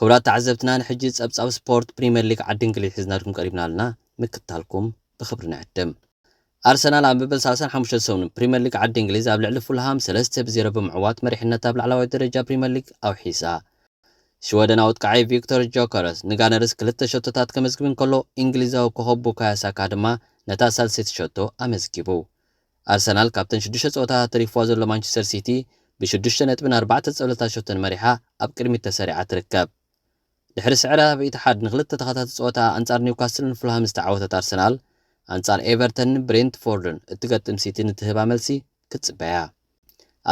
ክቡራት ተዓዘብትና ንሕጂ ጸብጻብ ስፖርት ፕሪመር ሊግ ዓዲ እንግሊዝ ሒዝናልኩም ቀሪብና ኣለና ምክትታልኩም ብኽብሪ ንዕድም። ኣርሰናል ኣብ መበል ሳልሳን ሓሙሽተን ሰሙንን ፕሪመር ሊግ ዓዲ እንግሊዝ ኣብ ልዕሊ ፉልሃም ሰለስተ ብ ዜሮ ብምዕዋት መሪሕነት ኣብ ላዕላዋይ ደረጃ ፕሪመር ሊግ ኣውሒሳ። ሽወደናዊ ኣጥቃዓይ ቪክቶር ጆከረስ ንጋነርስ ክልተ ሸቶታት ከመዝግብ እንከሎ እንግሊዛዊ ኮኾብ ቡካዮ ሳካ ድማ ነታ ሳልሰይቲ ሸቶ ኣመዝጊቡ። ኣርሰናል ካብተን ሽዱሽተ ጸወታታት ተሪፍዋ ዘሎ ማንቸስተር ሲቲ ብሽዱሽተ ነጥብን ኣርባዕተ ጸብለልታ ሸቶን መሪሓ ኣብ ቅድሚት ተሰሪዓ ትርከብ። ድሕሪ ስዕረ ኣብ ኢትሓድ ንኽልተ ተኸታቲ ጸወታኣ ኣንጻር ኒውካስልን ፉልሃምን ዝተዓወተት ኣርሰናል፣ ኣንጻር ኤቨርተንን ብሬንትፎርድን እትገጥም ሲቲ ንትህባ መልሲ ክትጽበያ።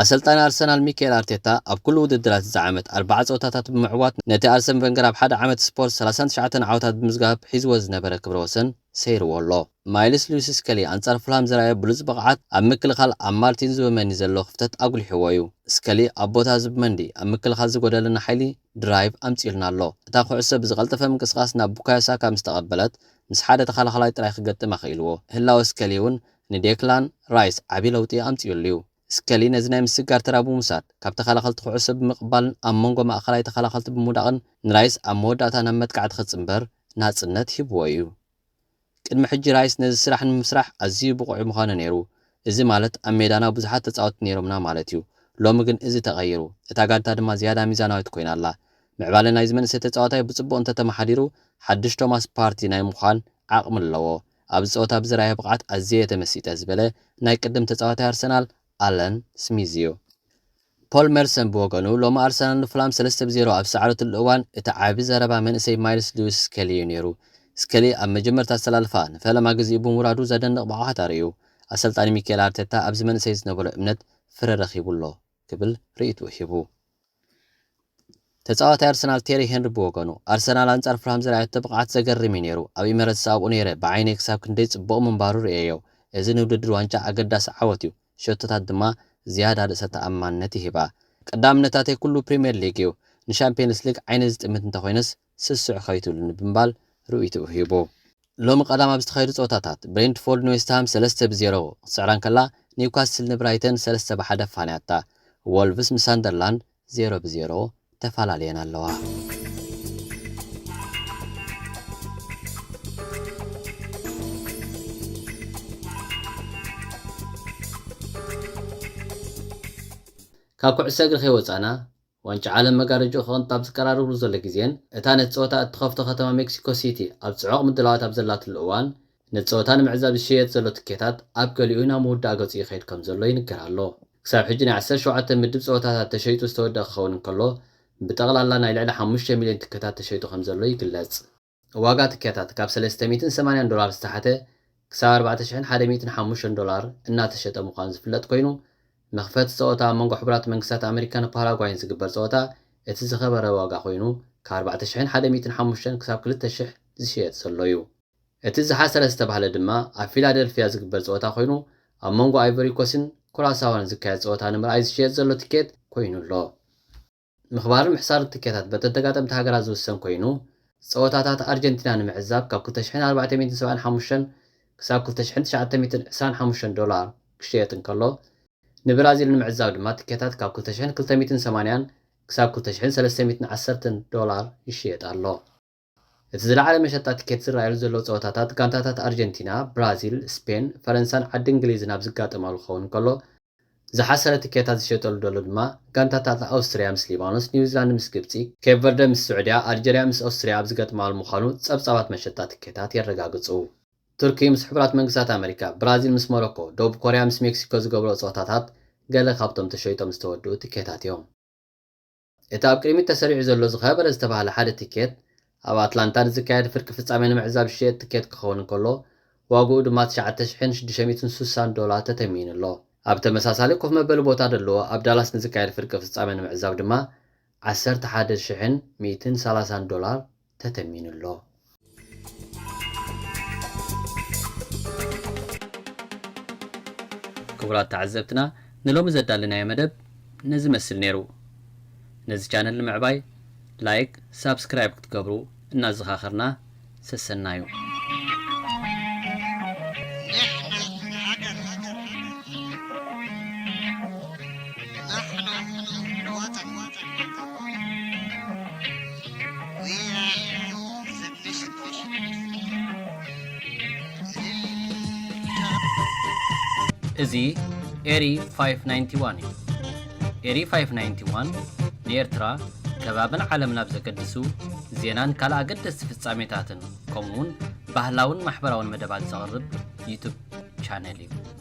ኣሰልጣኒ ኣርሰናል ሚካኤል ኣርቴታ ኣብ ኩሉ ውድድራት እዚ ዓመት ኣርብዓ ጸወታታት ብምዕዋት ነቲ ኣርሰን ቨንገር ኣብ ሓደ ዓመት ስፖርት ሰላሳን ትሽዓተን ዓወታት ብምዝጋብ ሒዝዎ ዝነበረ ክብረ ወሰን ሰይርዎ ኣሎ። ማይልስ ሉዊስ ስከሊ ኣንጻር ፉልሃም ዘርኣዮ ብሉጽ ብቕዓት ኣብ ምክልኻል ኣብ ማርቲን ዙብመንዲ ዘሎ ክፍተት ኣጉሊሕዎ'ዩ። ስከሊ ኣብ ቦታ ዙብመንዲ ኣብ ምክልኻል ዝጎደለና ሓይሊ፣ ድራይቭ፣ ኣምጺኡልና ኣሎ። እታ ኩዕሶ ብዝቐልጠፈ ምንቅስቓስ ናብ ቡካዮ ሳካ ምስ ተቐበለት ምስ ሓደ ተኸላኻላይ ጥራይ ክገጥም ኣኽኢልዎ። ህላወ ስከሊ'ውን ንዴክላን ራይስ ዓቢ ለውጢ ኣምጺኡሉ'ዩ። ስከሊ ነዚ ናይ ምስግጋር ተራ ብምውሳድ፣ ካብ ተኸላኸልቲ ኩዕሶ ብምቕባልን ኣብ መንጎ ማእከላይ ተኸላኸልቲ ብምውዳቕን ንራይስ ኣብ መወዳእታ ናብ መጥቃዕቲ ክጽንበር ናጽነት ሂብዎ'ዩ። ቅድሚ ሕጂ ራይስ ነዚ ስራሕ ንምስራሕ ኣዝዩ ብቑዕ ምኾነ ነይሩ፣ እዚ ማለት ኣብ ሜዳና ብዙሓት ተጻወትቲ ነይሮምና ማለት'ዩ። ሎሚ ግን እዚ ተቐይሩ፣ እታ ጋንታ ድማ ዝያዳ ሚዛናዊት ኮይና ኣላ። ምዕባለ ናይዚ መንእሰይ ተጻዋታይ ብጽቡቕ እንተተመሓዲሩ ሓድሽ ቶማስ ፓርቲ ናይ ምዃን ዓቕሚ ኣለዎ። ኣብዚ ጸወታ ብዝርኣዮ ብቕዓት ኣዝየ እየ ተመሲጠ ዝበለ ናይ ቅድም ተጻዋታይ ኣርሰናል ኣለን ስሚዝ'ዩ። ፖል መርሰን ብወገኑ፣ ሎሚ ኣርሰናል ንፉላም ሰለስተ ብ ዜሮ ኣብ ዝሰዓረትሉ እዋን፣ እቲ ዓቢ ዘረባ መንእሰይ ማይልስ ልዊስ ስከሊ'ዩ ነይሩ። ስከሊ ኣብ መጀመርታ ኣሰላልፋ ንፈለማ ግዜኡ ብምውራዱ ዘደንቕ ብቕዓት ኣርእዩ። ኣሰልጣኒ ሚኬል ኣርቴታ ኣብዚ መንእሰይ ዝነበሮ እምነት ፍረ ረኺቡ ኣሎ። ክብል ርእይትኡ ሂቡ። ተጻዋታይ ኣርሰናል ቴሪ ሄንሪ ብወገኑ፣ ኣርሰናል ኣንጻር ፉልሃም ዘርኣየቶ ብቕዓት ዘገርም'ዩ ነይሩ። ኣብ ኢመረትስ ኣብኡ ነይረ ብዓይነይ ክሳብ ክንደይ ጽቡቕ ምንባሩ ርእየዮ። እዚ ንውድድር ዋንጫ ኣገዳሲ ዓወት'ዩ፣ ሸቶታት ድማ ዝያዳ ርእሰ ተኣማንነት ይህባ። ቀዳምነታተይ ኩሉ ፕሪምየር ሊግ'ዩ፣ ንሻምፕየንስ ሊግ ዓይነይ ዝጥምት እንተኾይነስ፣ ስስዕ ከይትብሉኒ ብምባል ርእይቶኡ ሂቡ። ሎሚ ቀዳም ኣብ ዝተኻየዱ ጸወታታት፣ ብሬንትፎርድ ንዌስትሃም ሰለስተ ብ ዜሮ ክትስዕራ እንከላ፣ ኒውካስል ንብራይተን ሰለስተ ብ ሓደ ኣፋንያታ። ዎልቭስ ምስ ሳንደርላንድ ዜሮ ብ ዜሮ ተፋላልየን ኣለዋ። ካብ ኩዕሶ እግሪ ከይወጻእና፣ ዋንጫ ዓለም መጋረጃኡ ክቕንጥ ኣብ ዝቀራረብሉ ዘሎ ግዜን እታ ነቲ ጸወታ እትኸፍቶ ከተማ ሜክሲኮ ሲቲ ኣብ ጽዑቕ ምድላዋት ኣብ ዘላትሉ እዋን ነቲ ጸወታ ንምዕዛብ ዝሸየጥ ዘሎ ትኬታት ኣብ ገሊኡ ናብ ምውዳእ ገጹ ይኸይድ ከምዘሎ ይንገር ኣሎ። ክሳብ ሕጂ ናይ ዓሰርተ ሸውዓተ ምድብ ጸወታታት ተሸይጡ ዝተወደኣ ክኸውን እንከሎ ብጠቕላላ ናይ ልዕሊ ሓሙሽተ ሚልዮን ትኬታት ተሸይጡ ከምዘሎ ይግለጽ። ዋጋ ትኬታት ካብ ሰለስተ ሚእትን ሰማንያን ዶላር ዝተሓተ ክሳብ ኣርባዕተ ሽሕን ሓደ ሚእትን ሓሙሽተን ዶላር እናተሸጠ ምዃኑ ዝፍለጥ ኮይኑ፣ መኽፈቲ ጸወታ ኣብ መንጎ ሕቡራት መንግስታት ኣመሪካን ፓራጓይን ዝግበር ጸወታ እቲ ዝኸበረ ዋጋ ኮይኑ ካብ ኣርባዕተ ሽሕን ሓደ ሚእትን ሓሙሽተን ክሳብ ክልተ ሽሕ ዝሽየጥ ዘሎ'ዩ። እቲ ዝሓሰረ ዝተባህለ ድማ ኣብ ፊላደልፍያ ዝግበር ጸወታ ኮይኑ ኣብ መንጎ ኣይቮሪኮስን ኩራሳዎን ዝካየድ ጸወታ ንምርኣይ ዝሽየጥ ዘሎ ትኬት ኮይኑ ኣሎ። ምኽባርን ምሕሳርን ትኬታት በተን ተጋጠምቲ ሃገራት ዝውሰን ኮይኑ፣ ጸወታታት ኣርጀንቲና ንምዕዛብ ካብ ክልተ ሽሕን ኣርባዕተ ሚእትን ሰብዓን ሓሙሽተን ክሳብ ክልተ ሽሕን ትሽዓተ ሚእትን ዕስራን ሓሙሽተን ዶላር ክሽየጥ እንከሎ፣ ንብራዚል ንምዕዛብ ድማ ትኬታት ካብ ክልተ ሽሕን ክልተ ሚእትን ሰማንያን ክሳብ ክልተ ሽሕን ሰለስተ ሚእትን ዓሰርተን ዶላር ይሽየጥ ኣሎ። እቲ ዝለዓለ መሸጣ ቲኬት ዝረኣየሉ ዘሎ ጸወታታት ጋንታታት ኣርጀንቲና፣ ብራዚል፣ ስፔን፣ ፈረንሳን ዓዲ እንግሊዝን ኣብ ዝጋጠማሉ ክኸውን እንከሎ፣ ዝሓሰረ ቲኬታት ዝሸጠሉ ዘሎ ድማ ጋንታታት ኣውስትርያ ምስ ሊባኖስ፣ ኒውዚላንድ ምስ ግብጺ፣ ኬፕ ቨርደ ምስ ስዑድያ፣ ኣልጀርያ ምስ ኦስትርያ ኣብ ዝገጥማሉ ምዃኑ ጸብጻባት መሸጣ ቲኬታት የረጋግጹ። ቱርኪ ምስ ሕቡራት መንግስታት ኣመሪካ፣ ብራዚል ምስ ሞሮኮ፣ ደቡብ ኮርያ ምስ ሜክሲኮ ዝገብርኦ ጸወታታት ገለ ካብቶም ተሸይጦም ዝተወድኡ ቲኬታት እዮም። እቲ ኣብ ቅድሚት ተሰሪዑ ዘሎ ዝኸበረ ዝተባህለ ሓደ ቲኬት፣ ኣብ ኣትላንታ ንዝካየድ ፍርቂ ፍጻሜ ንምዕዛብ ዝሽየጥ ቲኬት ክኸውን እንከሎ፣ ዋጋኡ ድማ ትሽዓተ ሽሕን ሽዱሽተ ሚእትን ስሳን ዶላር ተተምኒኑ ኣሎ። ኣብ ተመሳሳሊ ኮፍ መበሊ ቦታ ደለዎ ኣብ ዳላስ ንዝካየድ ፍርቂ ፍጻሜ ንምዕዛብ ድማ ዓሰርተ ሓደ ሽሕን ሚእትን ሰላሳን ዶላር፣ ተተሚኑ ኣሎ። ክቡራት ተዓዘብትና ንሎሚ ዘዳለናዮ መደብ ነዚ መስል ነይሩ። ነዚ ቻነል ንምዕባይ ላይክ ሳብስክራይብ ክትገብሩ እናዘኻኸርና ሰሰናዩ። እዚ ኤሪ 591 እዩ። ኤሪ 591 ንኤርትራ ከባብን ዓለም ናብ ዘገድሱ ዜናን ካልእ ኣገደስቲ ፍጻሜታትን ከምኡውን ባህላውን ማሕበራውን መደባት ዘቕርብ ዩቱብ ቻነል እዩ።